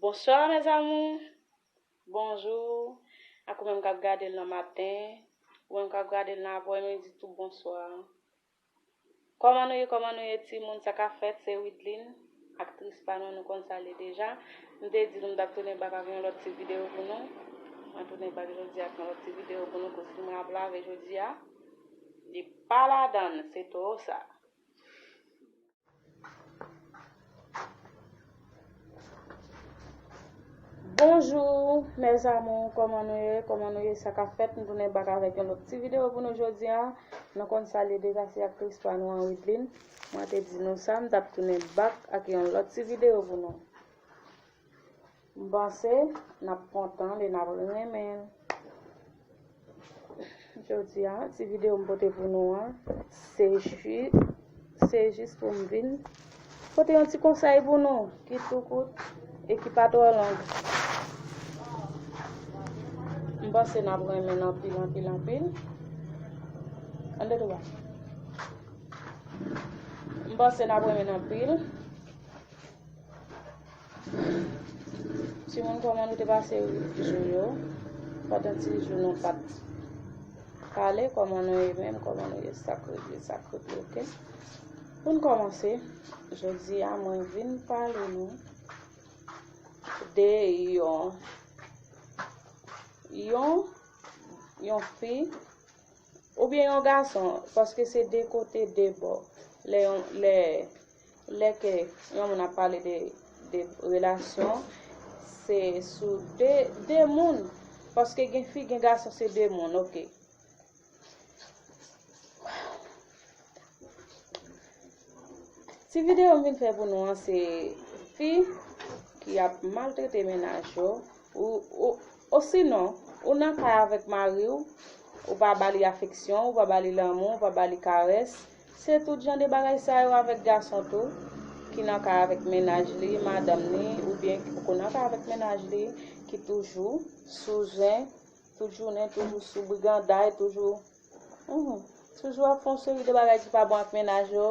Bonsoir mes amours bonjour ak ou menm kap gadel nan maten ou menm kap gadel nan aprè midi tou bonsoir kòman nou ye kòman nou ye ti moun sa ka fèt se widline aktris pa nou nou konn sa li deja m te di nou m tap tounen bak ak yon lòt ti video pou nou mwen tounen bak jodi ak yon lòt ti video pou nou kou fim rap la ve jodi a. Li pa ladann se toro sa. Bonjour mes amours koman nou ye koman nou ye sa ka fèt nou tounen bak avèk yon lòt ti video pou nou jodi a nou konn sa li deja se aktris pa nou an Wideline mwen te di nou sa m tap tounen bak ak yon lòt ti video pou nou. M panse nap kontan e nap renmen jodia ti video m pote pou nou an se ju se jis pou m vin pote yon ti konsèy pou nou ki tou kout e ki pa twò long m panse nap renmen anpil anpil anpil an de twa m panse nap renmen anpil Ti moun koman nou te pase jou yo pandan ti jou nou pat pale koman nou ye menm koman nou ye sak regle sak regle ok pou n komanse jodi a mwen vin pale nou de yon yon yon fi oubyen yon gason paske se de kote de bò lè yon lè Lè ke yon moun ap pale de de relasyon se sou de de moun paske gen fi gen gason se de moun ok. Ti videyo m vin fè pou nou an se fi ki ap maltrete menaj yo ou osinon ou nan kay avèk mariw ou pa ba li afeksyon ou pa ba li lanmou ou pa ba li karès Se tout jan de bagay sa yo avèk gason tou, ki nan kay avèk mennaj li, madanm ni, oubyen ki poko nan kay avèk mennaj li, ki toujou sou zen, tout jounen, toujou sou briganday, toujou, humm, toujou ap fè yon seri de bagay ki pa bon ak mennaj yo,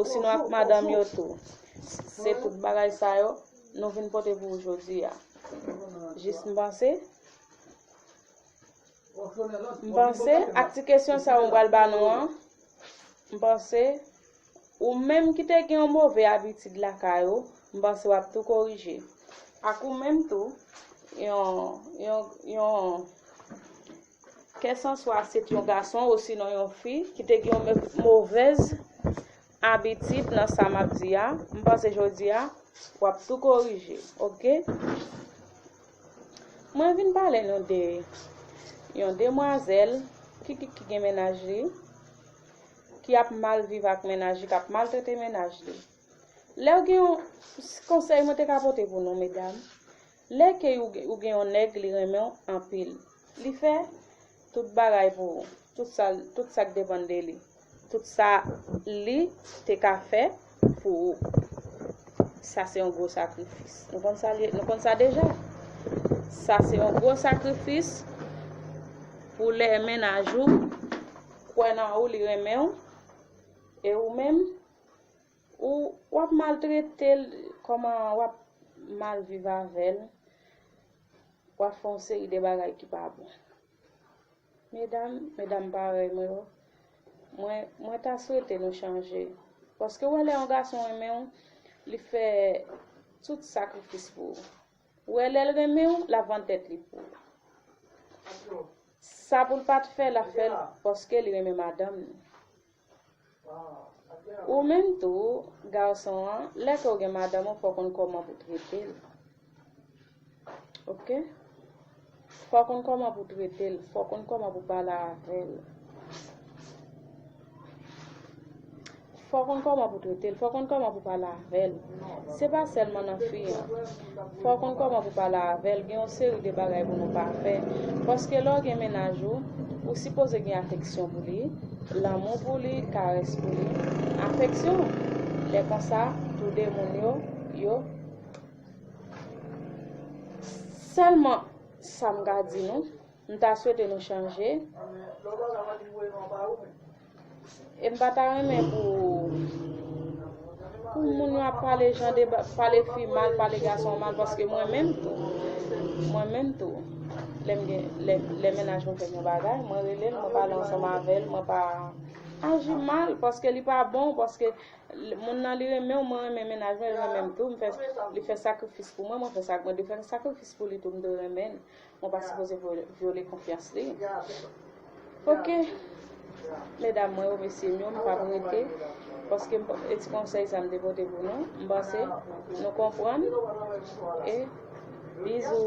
osinon ak madanm yo tou. Se tout bagay sa yo, nou vin pote pou ou jodi a. Jis m panse. M panse, ak ti kesyon sa a mwen pral ba nou an, m panse, ou menm ki te gen yon move abitid lakay ou, m panse w ap tou korije. Ak ou menm tou, yon, yon, yon, kèsanswa se t yon gason osinon yon fi ki te gen yon move. abitid nan sa map di a m panse jodi a wap tou korije ok mwen vin pale nou de yon demwazel ki ki ki gen menaj li ki ap mal viv ak menaj li kap mal trete menaj li lèw gen yon konsèy mwen te ka pote pou nou medam lè ke ou gen yon nèg li renmenw anpil li fè Tout bagay pou ou. Tout sa, tout sa k depann de li. Tout sa li te ka fè pou ou. Sa se yon gwo sakrifis. Nou konn sa, nou konn sa deja. Sa se yon gwo sakrifis pou lè mennaj ou kwè nan ou, li renmen ou, e ou menm, ou wap maltrete l, kòman wap mal viv avè l. Wap fè yon seri de bagay ki pa bon. Medam, medam parèy mwen yo, mwen, mwen ta swete nou chanje. Paske ou wè lè yon gason renmen ou, li fè tout sakrifis pou ou. Ou wè lè l renmen ou, lap vann tèt li pou ou. Sa pou l pat fè, lap fè l paske li renmen madanm li. Ou menm tou, gason an, lè ke w gen madanm ou, fò w konn kòman pou w trete l. Ok? Fò w konn kòman pou w trete l, fò w konn kòman pou w pale avè l. Fò w konn kòman pou w trete l, fò w konn kòman pou w pale avè l. Se pa sèlman nan fi an. Fòw konn kòman pou pale avèl gen yon seri de bagay pou nou pa fè paske lèw gen mennaj ou ou sipoze gen afeksyon pou li lanmou pou li karès pou li afeksyon lè konsa tou de moun yo yo sèlman sam ka di nou mta swete nou chanje. E m pa ta renmen pou pou moun yo ap pale jan de pale fi mal, pale gason mal paske mwen menm tou. Mwen menm tou. Lè m gen lè menaj mwen fè m yon bagay, mwen rele l, mwen pale ansanm avè l, mwen pa aji mal paske li pa bon, paske moun nan li renmen w, mwen renmen menaj mwen, li renmen m tou, li fè sakrifis pou mwen, mwen fè sakrifis pou li tou m dwe renmen l. Ou pa sipoze vyole konfyans li. Ok medam mwen remesye nou m pap rete paske e ti konsèy sa m te pote pou nou m panse nou konprann e bizou.